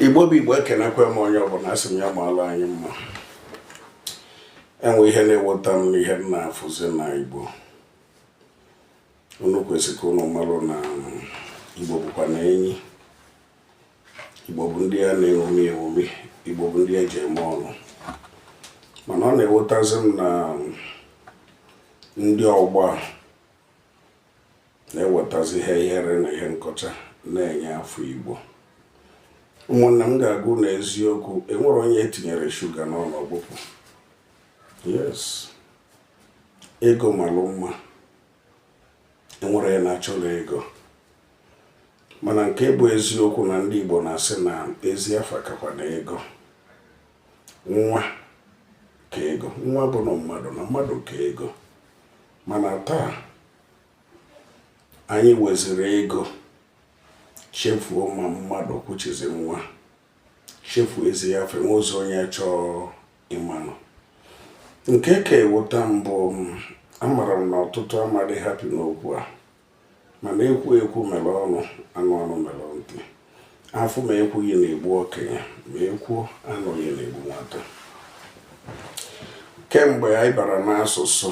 igbo bụ igbo ekenekwe m onye ọbụla asị m ya maalụ anyị mma enwe ihe na-ewuta m n'ihe m na-afụzi n'igbo unu kwesịrị ka unu malụ na igbo bụkwanụ enyi igbo bụ ndị a na-eṅomi eṅomi igbo bụ ndị eji eme ọnụ mana ọ na-ewutazi m na ndị ọgbọ a na-ewetazi ihe ihere na ihe nkọcha na-enye afọ Igbo ụmụnna m ka akwụ n'eziokwu enwerọ onye etinyere shuga n'ọnụ ọ gbụpụ yes ego malụ mma enwerọ onye na-achọrọ ego mana nke bụ eziokwu na ndị Igbo na-asị na ezi afa kakwanụ ego nwa ka ego nwa bụnụ mmadụ na mmadụ ka ego mana taa anyị weziri ego chefuo ma mmadụ kwuchizi nwa chefuo ezi afa ụzọ onye chọọ ịmanụ nke ka ewuta m bụ amara m na ọtụtụ ama adị happy n'okwu a mana ekwu ekwu mere ọnụ anụ anụ mere ntị afụ ma ekwughị na-egbu okenye ma ekwuo anụghị na-egbu nwata kemgbe anyị bara n'asụsụ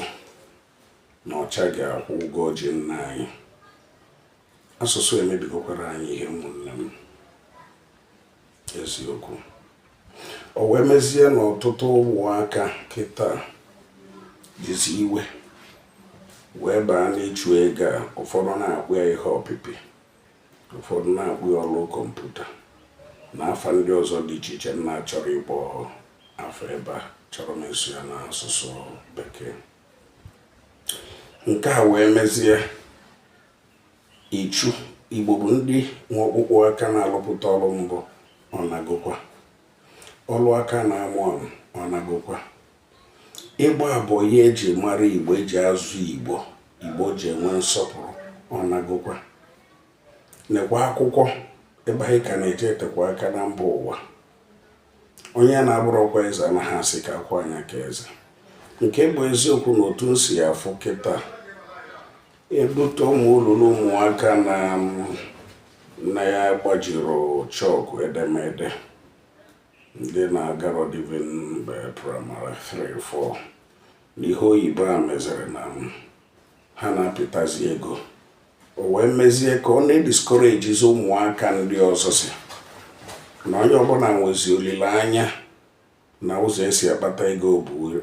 na ọcha ga-akwụ ụgwọ o ji nna anyị asụsụ emebigokwara anyị ihe ụmụnne m eziokwu o wee mezie na ọtụtụ ụmụaka kịta jizi iwe wee baa n'ịchụ ego a ụfọdụ na-akpọ ya ihe ọpịpị ụfọdụ na-akpọ ya ọrụ kọmputa na afa ndị ọzọ dị iche iche m na-achọrọ ịkpọ afa ebe a achọrọ m ịsụ ya n'asụsụ bekee nke a wee mezie Ichu, Igbo bụ ndị nwe ọkpụkpụ aka na-alụpụta ọrụ mbụ ọ nagokwa. Ọrụ aka a na-amụ amụ ọ nagokwa. Ịgba boyi eji mara Igbo eji azụ Igbo Igbo ji enwe nsọpụrụ ọ nagokwa. Nekwa akwụkwọ ibe anyị ka na-eje etekwa aka na mba ụwa onye na-abụrọkwa eze anaghị asị ka akwaa nya ka eze nke bụ eziokwu na otu m si ya afụ kịta ebute ụmụ ụlọ na ụmụaka ndị na-agbajirọ chọkụ edemede ndị na-agarọdị even maybe primary 3 4 n'ihe oyibo a meziri na ha na-apịtazi ego o wee mezie ka ọ na-ediskorejizi ụmụaka ndị ọzọ si na onye ọbụla nwezi olileanya na ụzọ e si akpata ego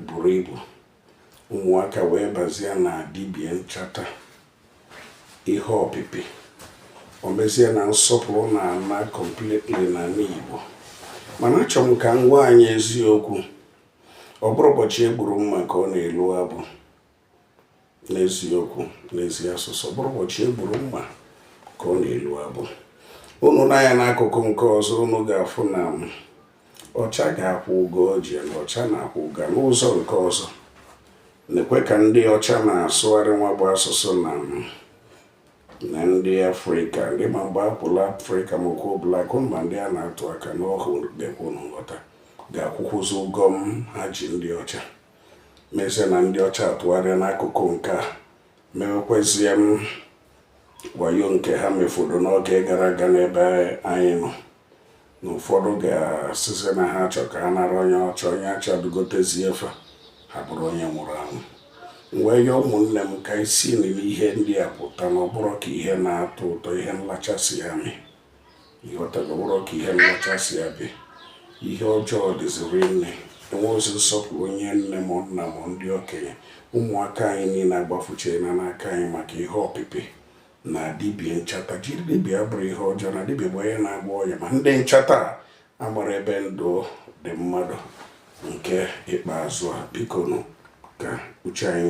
buru ibu ụmụaka wee bazie na dibia nchata ihe ọpịpị o mezie na nsọpụrụ na-ana completely n'ana Igbo mana achọrọ m ka m gwa anyị eziokwu ọ bụrọ ụbọchị e gburu mma ka ọ na-elu abụ n'eziokwu n'ezi asụsụ ọ bụrọ ụbọchị e gburu mma ka ọ na-elu abụ unu nee anya n'akụkụ nke ọzọ unu ga-afụ na ọcha ga-akwụ ụgwọ o ji na ọcha na-akwụ ụgwọ n'ụzọ nke ọzọ nekwe ka ndị ọcha na-asụgharị nwa bụ asụsụ na na ndị afrịka ndị ma mgbe akwụla afrịka ma okwu blak ma ndị a na-atụ aka n'ọhụụ ga-ekwu nghọta ga-akwụkwụzi ụgwọ m ha ji ndị ọcha mezie na ndị ọcha atụgharịa n'akụkụ nke a mewekwezie m wayo nke ha mefọrọ n'oge gara aga n'ebe anyị nọ na ụfọdụ ga-asịzi na ha chọ ka ha nara onye ọcha onye acha dugotezie efe ha bụrụ onye nwụrụ anwụ wee yọọ ụmụnne m ka e si n'ihe ndị a pụta na ọ bụrọ ka ihe na-atọ ụtọ ihe nlachasị ya mee ị ghọtago ọ bụrọ ka ihe nlacha si abịa ihe ọjọọ dịzi rinne enwerọzi nsọpụrụ onye nne m nna m ndị okenye ụmụaka anyị niile agbafuchaana n'aka anyị maka ihe ọpịpị na dibia nchata jiri dibia bụrụ ihe ọjọọ na dibia bụ onye na-agwọ ọya ma ndị nchata amarọ ebe ndụ dị mmadụ nke ikpeazụ a biko nụ ka uche anyị